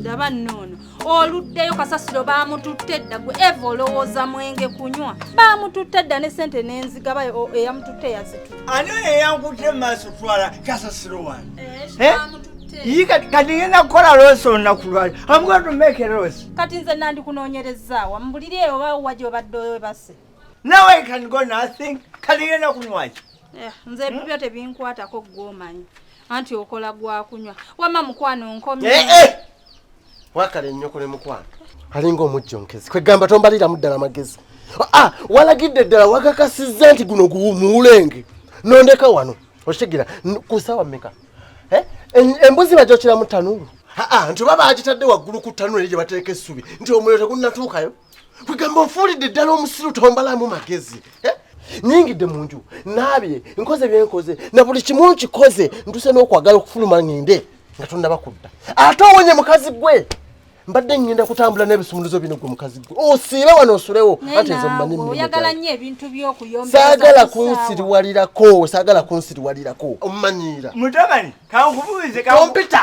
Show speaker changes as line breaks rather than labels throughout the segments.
ndaba nnoono oluddeyo kasasiro baamututte dda gwe eva olowooza mwenge kunywa baamututte dda ne sente n'enzigaba eyamututte yazitu ani oyo eyankutte
mu maaso twala kasasiro wani eh, eh? kati ngenda kukola loosi olunaku lwali amugona tumeke loosi kati nze
nandikunoonyerezaawa mubuliri eyo oba wajobadde owebase nawe
kango nothing kati ngenda kunywaki Eh, nze hmm? bibyo
tebinkwatako gwomanyi anti okola gwakunywa wama mukwano nkomye eh, eh!
wakale nnyoko ne mukwano alinga omujjonkezi kwegamba tombaliramu ddala magezi ah, ah, walagidde ddala wakakasizza nti guno muwulenge nondeka wano okitegera kusawa meka embuzi bajokira mu tanuulu ah, nti oba bagitadde waggulu ku tanuulu eri gye bateeka essubi nti omuliro tegunnatuukayo kwegamba ofuulidde ddala omusiru tombalamu magezi eh? nyingidde mu nju naabye nkoze byenkoze na buli kimu nkikoze ntuse n'okwagala okufuluma ngende nga tonnaba kudda ate owonye mukazi gwe mbadde ngenda kutambula n'ebisumuluzo bino gwe mukazi gwe osiibe wano osulewo anti nze mumanyi oyagala nnyo ebintu
by'okuyomba saagala kunsiriwalirako
saagala kunsiriwalirako omumanyiira mutabani
kankubuuze kompita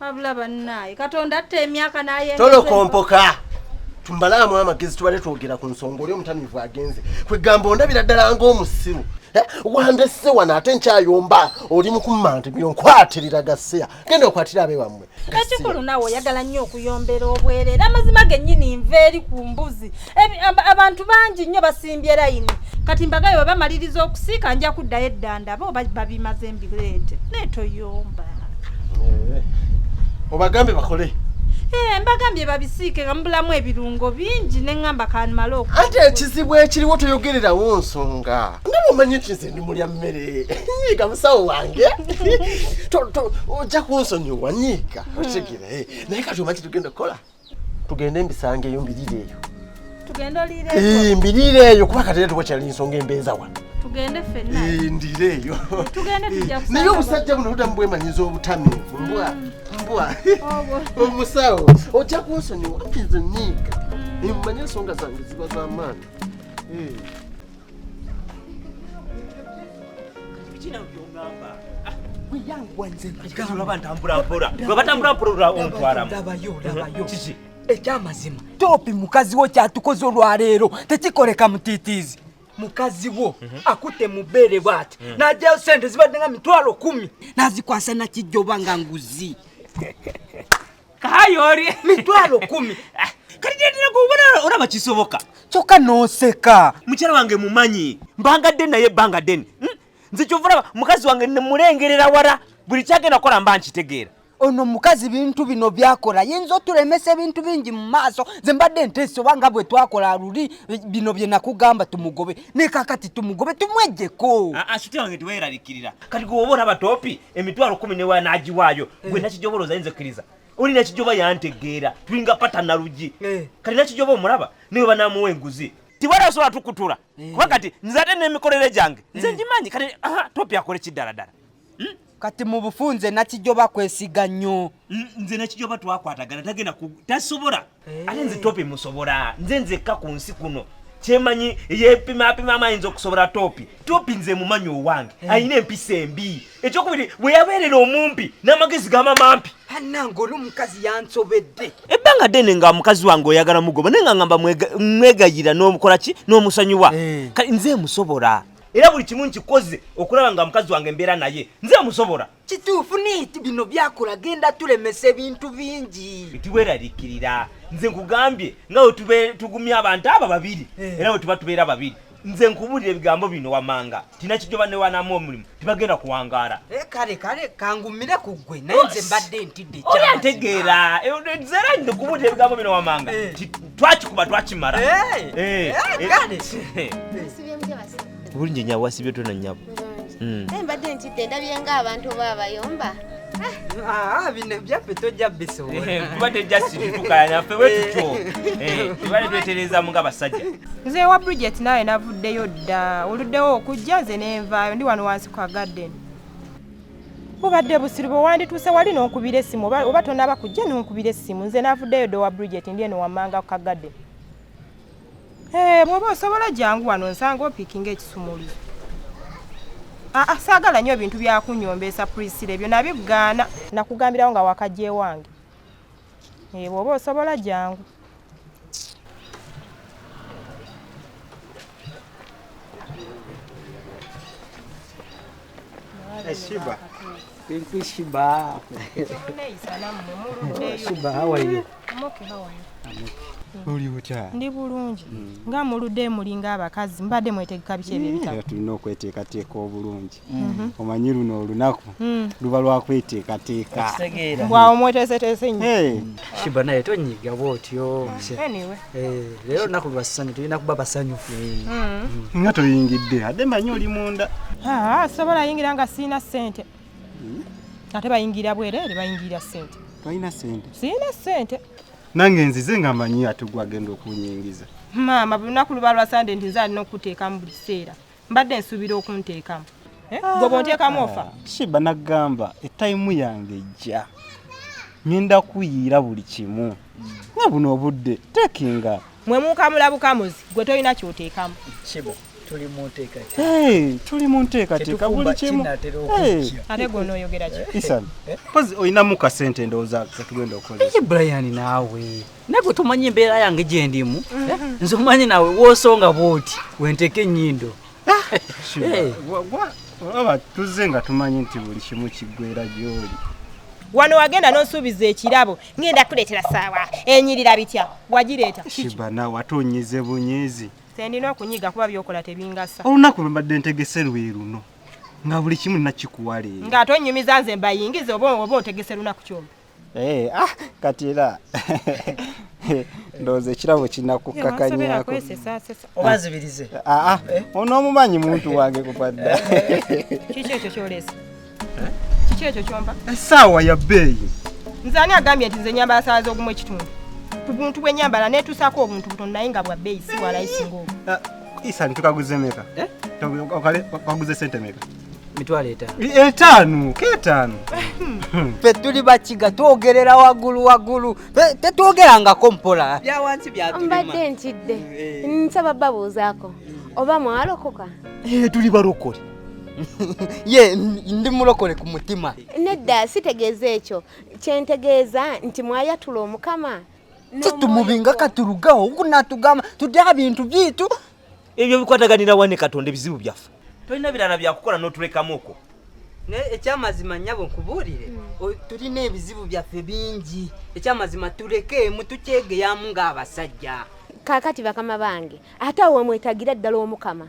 wabula bannaye katonda atta emyaka naye tolokompoka
tumbalaamu amagezi tubale twogera ku nsonga oli omutamivu agenze kwegamba ondabira ddala ngaomusiru eh, wandese wano ate nkyayomba oli mukumante bino nkwatirira gaseya genda okwatira abe wammwe ekikulu nawe
oyagala nnyo okuyombera obwerere amazima gennyini nva eri ku mbuzi abantu bangi nnyo basimbye layini kati mbagaye webamaliriza okusiika nja kuddayo eddanda bo babimaze mbireete naye toyomba eh,
obagambe bakole eh, mbagambye
babisiike nga mubulamu ebirungo bingi neŋŋamba kanmala oku ate ekizibu
ekiriwo toyogererawo nsonga nawe omanyi nti nze ndi mulya mmere nyiiga musawo wange ojja kunsonyiwa nyiiga otegere eh, naye kati omanyi tugenda kukola tugende mbisanga eyo mbirire eyo tugende oliire
eyo mbirire eyo kuba kati
tuba kyali nsonga embeeza wa tugende fenna
ndire eyo
tugende tujja kusanga
naye obusajja buno budamu
bwemanyiza obutami mbwa mm. mbwa omusawo ojja kunsonyiwa nze niiga mm. mmanyi ensonga zange ziba z'amaani eh.
ekyamazima topi mukazi wo kyatukoze olwaleero tekikoleka mutiitiizi mukazi wo mhm. akute mubeere bwati mhm. najayo sente zibadde nga mitwalo kumi nazikwasa nakijja oba nga nguzi
kayoli mitwalo kumi
ah, kati
gyendera kubona olaba kisoboka kyokka noseka
mukyala wange mumanyi
mbangadde naye ebbanga ddene hmm? nze kyova olaba mukazi wange nemulengerera wala buli kyagenda kukola mba nkitegeera ono mukazi
bintu bino byakola yinza otulemesa ebintu bingi mu maaso nze mbadde nteesa oba nga bwe twakola luli bino bye nakugamba tumugobe nekakati tumugobe tumwejjeko ah, ah, wange
teweraliikirira kati gwe oba olaba topi emitwalo kumi newa nagiwaayo eh. gwe nakijobola ozainza ekkiriza oli nakijoba yantegeera tulinga pata nalugi eh. kati nakijoba omulaba naye oba namuwa enguzi tiwala osobola tukutula eh. kuba kati nze ate nemikolere gyange nze ngimanyi kati topi akole kiddaladala hmm? kati
mu bufunze nakijoba kwesiga nnyo nze nakijoba
twakwatagana tagenda tasobola eh. ate nze topi musobola nze nzekka ku nsi kuno kyemanyi yepimapimamu ayinza okusobola topi topi nze mumanyi owange eh. alina empisa embi ekyokubiri bwe yabeerera omumpi n'amagezi gama mampi anange oli omukazi
yansobedde ebbanga dene nga
mukazi wange oyagala mugoba naye nga ngamba mwegayira n'omukola ki n'omusonyiwa eh. kati nze musobola era buli kimu nkikoze okulaba nga mukazi wange mbeera naye nze musobola kituufu niiti
bino byakola genda tulemesa ebintu bingi nti weraliikirira
nze nkugambye nga wetube tugumya abantu abo babiri eh. era wetuba tubeera babiri nze nkubulira ebigambo bino wamanga tinakijoba newanamu omulimu tibagenda kuwangaala eh, kale kale
kangumire ku ggwe naye nze mbadde ntidde oba ntegeera
eh, zera nze nkubulira ebigambo bino wamanga twakikuba twakimala bulungi nyabo
wasibye tona
nyabo
hmm.
naye mbadde
ntidde
ndabye nga
abantu oba abayomba ah, ah,
bino byaffe tojja bisobola eh, kuba tejja situkala
naffe wetutyo eh, tubale twetereezamu nga basajja nze wa bridget
naawe navuddeyo dda oluddewo okujja nze nenvaayo ndi wano wansi kwa garden bubadde busiru bwe wandituuse wali n'onkubira essimu oba tonaba kujja n'onkubira essimu nze navuddeyo dda owa bridget ndi eno wammanga ku kagadde Hey, eh, bwoba osobola jangu wano nsanga opikinga ekisumuli aa ah, ah, saagala nnyo ebintu byakunyombeesa prisila ebyo nabigaana nakugambirawo nga wakajja ewange eh, bwoba osobola jangu
Eshiba. Pinky
Shiba. Shiba, how are you?
oli butya
ndi bulungi mm.
nga mulude mulinga abakazi mbadde mwetegeka biki ebyo ebitabo eh, tulina okweteekateeka
obulungi mm-hmm. omanyi luno olunaku mm. luba lwakweteekateeka mbwawo
mweteeseteese nyo eh. shiba naye tonyiga
bwotyo eh,
leero lunaku
lwassanyu tulina kuba basanyufu mm. nga
toyingidde ade manyi oli munda ah, ah, sobola
yingira nga siina ssente hmm? ate bayingira bwereere bayingira sente tolina sente
sirina sente
nange nzize
nga manyi ate gwagenda okunyingiza maama buli lunaku
luba lwa sande nti nze alina okukuteekamu buli kiseera mbadde nsuubira okunteekamu eh? ah. gwe bonteekamu ofa shiba nagamba
etayimu yange ejja ngenda kuyiira buli kimu nga buno obudde tekinga mwe mukamulabukamuzi
gwe tolina kyoteekamu shiba tuli
mu nteekateeka hey, tuli mu
nteekateeka buli kimu ate
gona oyogera ki eh, isan eh. pozi
olinamu ka sente ndowooza katugenda okoleza brian naawe
nagwe tomanyi embeera yange gye ndimu eh, mhm. nze omanyi naawe woosonga bwoti wenteeka ennyindo ah,
olaba tuzze nga tumanyi nti buli kimu kiggwera gyoli wano
wagenda nosuubiza ekirabo ngenda kuleetera saawa enyirira bitya wagireeta shiba nawe ate
onyize bunyezi Sendina okunyiga
kuba byokola tebingasa. Olunaku lwe mbadde ntegese
lwe luno nga buli kimu nakikuwa leero. Nga ate onnyumiza nze
mbayingiza oba oba otegese lunaku kyombi. Eh, ah,
kati era ndowooza ekirabo kinakukkakanyako
obazibirize. Ah, ah, eh? Ono omumanyi
muntu wange kupadda. Kiki
ekyo kyolesa? eh? kiki ekyo kyomba esaawa ya bbeeyi
nze ani agambye
nti nze nyambala saawa z'ogumu ekitundu ku buntu bw'enyambala neetuusaako obuntu butono naye nga bwa bbeeyi si walayisinga obu eh, isani tukaguze
meka eh? kaguze sente meka mitwalo etaano
etaano
keetaano fe
tuli bakiga twogerera waggulu waggulu tetwogerangako mpola byawansi byatumbadde ntidde
nsaba babuuzaako oba mwalokoka tuli balokole
ye ndi mulokole ku mutima nedda sitegeeza
ekyo kyentegeeza nti mwayatula omukama tetumubinga
katurugawo okunatugamba tudde abintu byitu ebyo bikwataganira
wane katonda ebizibu byaffe tolina birala byakukola notulekamu okwo naye ekyamazima
nyabo nkubuulire hmm. tulina ebizibu byaffe bingi ekyamazima tulekeemu tukyegeyamu ng'abasajja kakati bakama
bange ate awo wemwetagira ddala omukama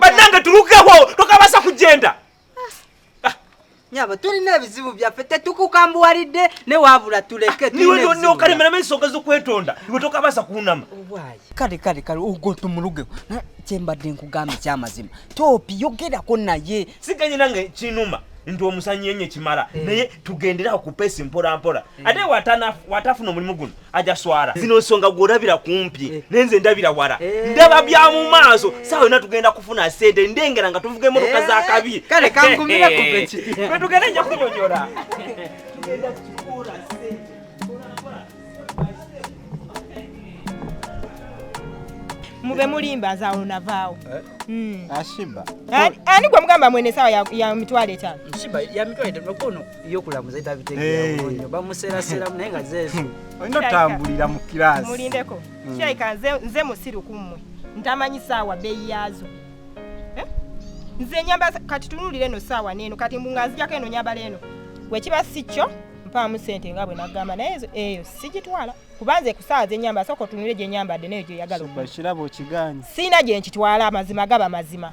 bannange tulukewo
tokabasa kugenda ah. ah. nyabo
tulina ebizibu byaffe tetukukambuwalidde ne wabula tuleke nokalemeramu
ensonga zokwetonda iwe tokabasa kunama kale kale
kale ogwo tumulugewo kyembadde nkugamba ekyamazima topi yogerako naye siganye nange
kinuma nti omusanyi enye kimala eh. naye tugenderawo kupesi mpolampola eh. ate watafuna omulimu guno ajaswara eh. zino nsonga gwolabira kumpi eh. nenze ndabira wala eh. ndaba bya mu maaso saawa yona tugenda kufuna sente ndengera nga tuvuga emotoka za kabi kale kangumira
kupeki tugenda nja
kunyonyola
mube mulimba nzaawo navaawo eh? hmm.
ashiba ani
gwe mugamba mwene esawa ya mitwalo etaano
byokulamuza tabitegeeranyo bamuseeraseramu naye nga zeezo olina otambulira
mu kiraasi mulindeko hmm. kyaika
nze musiru ku mmwe ntamanyi saawa beeyi yaazo eh? nze nyamba kati tunulira eno saawa neeno kati mbu nga nzijako eno nyambala eno wekiba si kyo mpaamu sente nga bwe nagamba naye eyo sigitwala kubanze kusaawa zenyamba sooka otunulire gyenyambadde nayo gyoyagala okirabo okiganye
siina gye nkitwala
amazima gaba mazima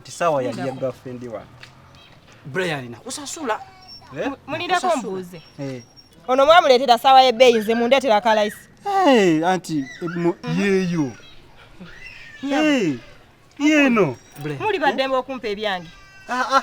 nti saawa yali ya girlfriend wa Brian
na kusasula eh? mulindako
mbuuze eh. ono mwamuleetera saawa y'ebbeeyi nze mundeetera kalayisi eh, anti
yeeyo yeeno muli baddembe
okumpa ebyange ah, ah.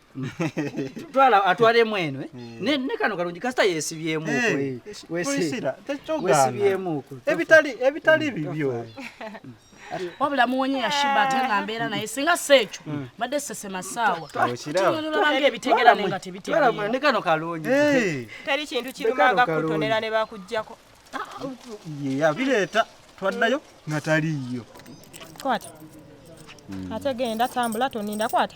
twala atwalemu eno eh? eh. ne kano kalungi kasita yesibyemu eh, wesibyemu ebitali ebitali mm,
bibyo
wabula muwonye yashiba ate nga mbeera naye singa si ekyo mm. mbadde sesema saawa tunulabanga ebitegera naye nga tebitegeera ne kano kalungi
teri kintu
kirumanga kutonera ne bakuggyako
yabireeta twaddayo nga taliiyo kwata
mm. ate genda tambula toninda kwata